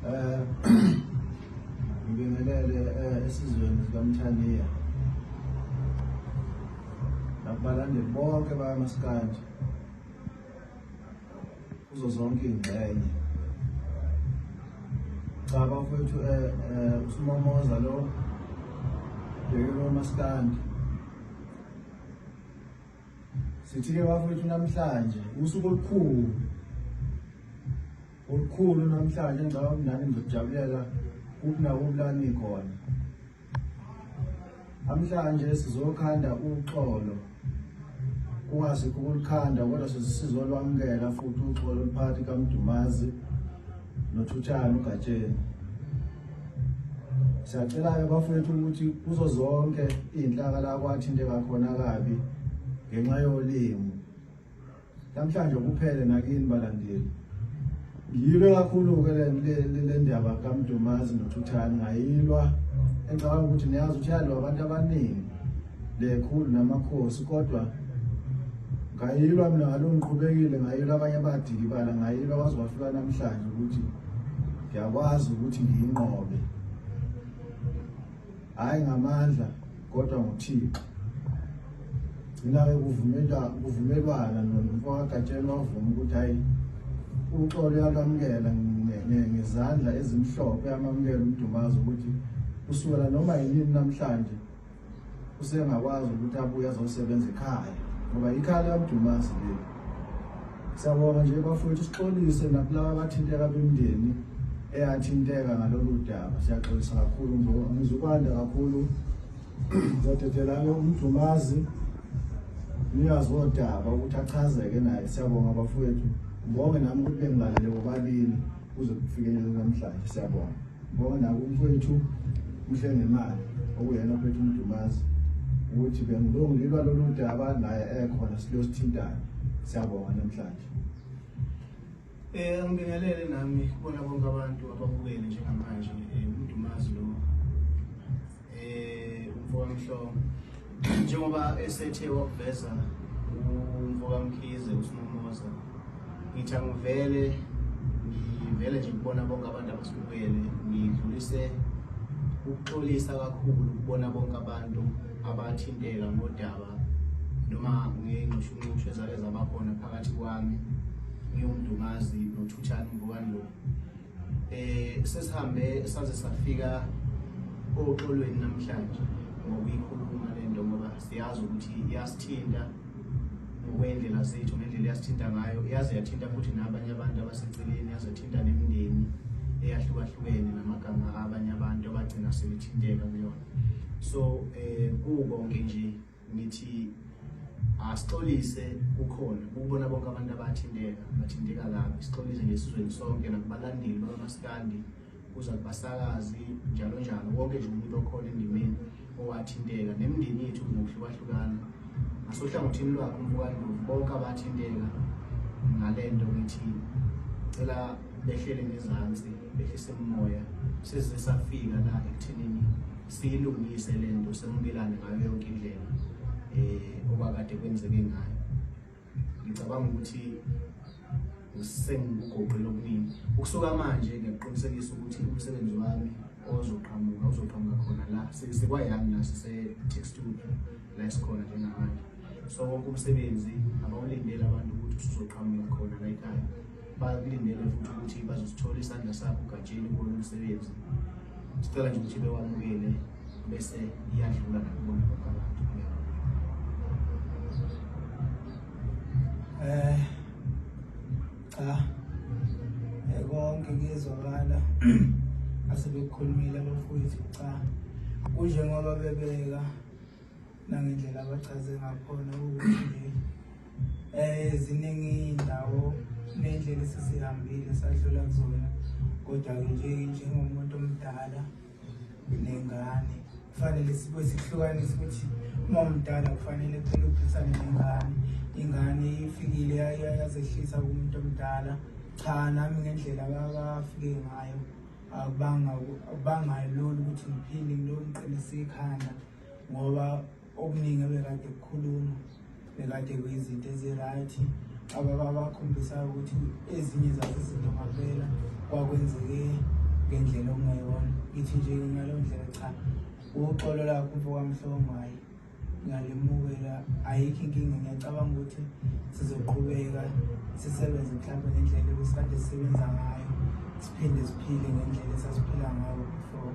Eh, ngibingelele eh, esizweni sikamthaniya nakubalandeli bonke bayamasikanje kuzo zonke iy'ngxenye cha bafowethu um eh, eh, usumomoza lo bhekelo masikandi Sithi-ke bafowethu namhlanje usuku olukhulu olukhulu namhlanje ngicabanga ukuthi nani ngizojabulela kuphi nakuphi la nikhona namhlanje sizokhanda uxolo kungasikho ukulikhanda kodwa sizolwamukela futhi uxolo oluphakathi kamdumazi nothutshana ugatsheni siyacela-ke bafowethu ukuthi kuzo zonke iy'nhlaka la kwathinteka khona kabi ngenxa yolimi namhlanje kuphele nakini balandeli ngiyilwe kakhulu-ke le ndaba kamdumazi nothuthani ngayilwa engicabanga ukuthi niyazi ukuthi yalwa abantu abaningi lekhulu namakhosi kodwa ngayilwa mina ngaloo ngiqhubekile ngayilwa abanye abadikibala ngayilwa kwaze kwafika namhlanje ukuthi ngiyakwazi ukuthi ngiyinqobe hhayi ngamandla kodwa nguthixo ngina-ke kuvumelwana nomfakagatsheni wavuma ukuthi hhayi uxolo yakwamukela ngezandla ezimhlophe amamukela umdumazi ukuthi kusukela noma yinini namhlanje usengakwazi ukuthi abuye azosebenza ekhaya ngoba ikhaya likamdumasi leli siyabonga nje bafowethu sixolise nakulaba abathinteka bemndeni eyathinteka ngalolu daba siyaxolisa kakhulu ngoba ngizukwanda kakhulu zodedelane umdumazi niyazi wodaba ukuthi achazeke naye siyabonga bafowethu ngibonge nami ukuthi bengilalele bobabili kuze kufikelele namhlanje siyabonga Ngoba naku mfowethu uMhlengemali okuyena ophethe uMdumazi ukuthi bengilungilwa lolu daba naye ekhona silosithintana siyabonga namhlanje Eh angibingelele nami kubona bonke abantu ababukele njengamanje eh, uMdumazi lo eh mfowamhlobo njengoba esethe wakuveza umfokamkhize usinomoza ngithi angivele ngivele nje ngibona bonke abantu abasukele ngidlulise ukuxolisa kakhulu ukubona bonke abantu abathinteka ngodaba noma ngey'nxushunxushu ezake zabakhona phakathi kwami ngiwumntu ngazi nothuthani mvukani lokhu Eh sesihambe saze safika oxolweni namhlanje ngokuyikhuluma lento ngoba siyazi ukuthi iyasithinta ngokwendlela zethu ngendlela eyasithinta ngayo yaze yathinta futhi nabanye abantu abaseceleni yaze yathinta nemindeni eyahlukahlukene namagama abanye abantu abagcina sebethinteka kuyona so um kukonke nje ngithi asixolise kukhona ukubona bonke abantu abathinteka bathinteka kabi sixolise nje sizweni sonke nakubalandeli bakamasikandi kuza kubasakazi njalo njalo wonke nje umuntu okhona endimeni owathinteka nemindeni yethu ngokuhlukahlukana ngasohlangothini lwakho mfowandlovu bonke abathinteka ngale nto ngithi cela behlele ngezansi behlise umoya size safika la ekuthenini siyilungise lento semukelane ngayo yonke indlela eh okwakade kwenzeke ngayo ngicabanga ukuthi usengikugoqile okuningi ukusuka manje ngiyakuqinisekisa ukuthi umsebenzi wami ozoqhamuka uzoqhamuka khona la sikwayami la sise-tax studio la esikhona njengamanje so wonke umsebenzi abawulindele abantu ukuthi usuzoqhamuka khona la ekhaya bakulindele futhi ukuthi bazosithola isandla sakho gatsheni kuwona umsebenzi sicela nje ukuthi bewamukele bese iyadlula nakubona kwabantu eh cha eh, konke kuyezwakala asebekukhulumile abafowethu cha kunjengoba bebeka nangendlela abachaze ngakhona ukuthi eh ziningi indawo nendlela esisihambile sadlula kuzona kodwa ke nje njengomuntu omdala nengane kufanele sibe sihlukanise ukuthi uma umdala kufanele kuphela uphisane nengane ingane ifikile yazehlisa kumuntu omdala cha nami ngendlela abafike ngayo abangayo lolu ukuthi ngiphinde ngilomqinise ikhanda ngoba okuningi ebekade kukhuluma bekade kuyizinto ezi-right ababa bakhombisayo ukuthi ezinye zazo izinto ngavela kwakwenzeke ngendlela okungayona ngithi nje ngaleyo ndlela cha uxolo lakho mfokamhlongo hhayi ngiyalimukela ayikho inkinga ngiyacabanga ukuthi sizoqhubeka sisebenze mhlawumbe ngendlela ebesikade sisebenza ngayo siphinde siphile ngendlela esasiphila ngayo before